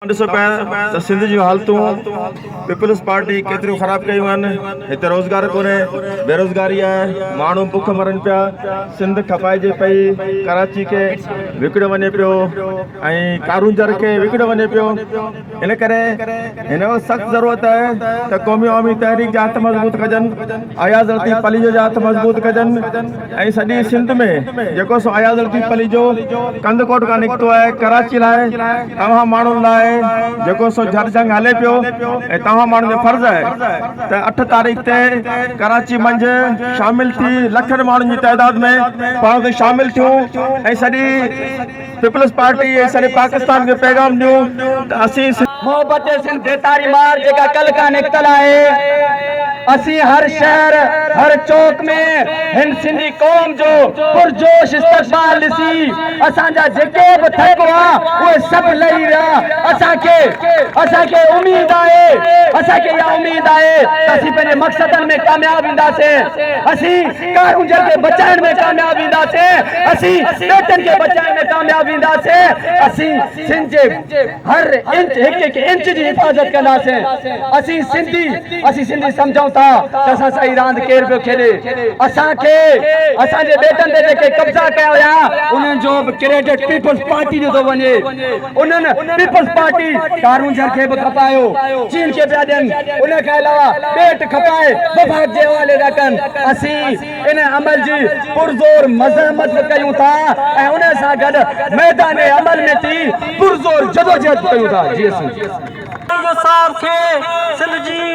اوهان ڏسو پيا ته سنڌ جون حالتون پيپلز پارٽي ڪيتريون خراب ڪيون آهن، هتي روزگار ڪونهي، بيروزگاري آهي، ماڻهو بک مرن پيا، سنڌ کپائجي پئي، ڪراچي کي وڪڻيو وڃي پيو ۽ ڪارونجهر کي وڪڻيو وڃي پيو، ان ڪري هن وقت سخت ضرورت آهي ته قومي عوامي تحريڪ جا هٿ مضبوط ڪجن، اياز لطيف پليجو جا هٿ مضبوط ڪجن. ۽ سڄي سنڌ ۾ جيڪو سو اياز لطيف پليجو ڪنڌڪوٽ کان نڪتو آهي ڪراچي لاء توهان ماڻهن لاء جيڪو سو جھر جنگ هلي پيو ۽ توهان ماڻهن جو فرض آهي ته اٺ تاريخ تي ڪراچي منجهه شامل ٿي لکن ماڻهن جي تعداد ۾ پاڻ اتي شامل ٿيون ۽ سڄي پيپلز پارٽي ۽ سڄي پاڪستان کي پيغام ڏيون ته اسين. محبت سنڌ بيتاري مار جيڪا ڪل کان نڪتل آهي اسين هر شهر هر چوڪ ۾ هن سنڌي قوم جو پرجوش استقبال ڏسي اسان جا جيڪي به ٿڪ هئا اهي سڀ لهي ويا اسان کي اسان کي اميد آهي اسان کي اها اميد آهي ته اسين پنهنجي مقصدن ۾ ڪامياب وينداسين اسين ڪار اونجهر کي بچائڻ ۾ ڪامياب وينداسين، اسين ٻيٽن کي بچائڻ ۾ ڪامياب وينداسين، اسين سنڌ جي هر انچ هڪ هڪ انچ جي حفاظت ڪنداسين، اسين سنڌي اسين سنڌي سمجهون ٿا ته اسان سان هي راند ڪير پيو کيڏي، اسان کي اسان جي ٻيٽن تي جيڪي قبضا ڪيا ويا انهن جو به ڪريڊٽ پيپلز پارٽي جو ٿو وڃي. انهن پيپلز پارٽي ڪارونجهر کي به کپايو، چين کي پيا ڏين، ان کان علاوه پيٽ کپائي وفاق جي حوالي ٿا ڪن، اسين ان عمل جي پرزور مزاحمت به ڪيون ٿا ۽ ان سان گڏ ميدان عمل ۾ ٿي پرزور جدوجهد به ڪيون ٿا. جي اسين. ڪارونجهر صاحب کي سنڌ جي.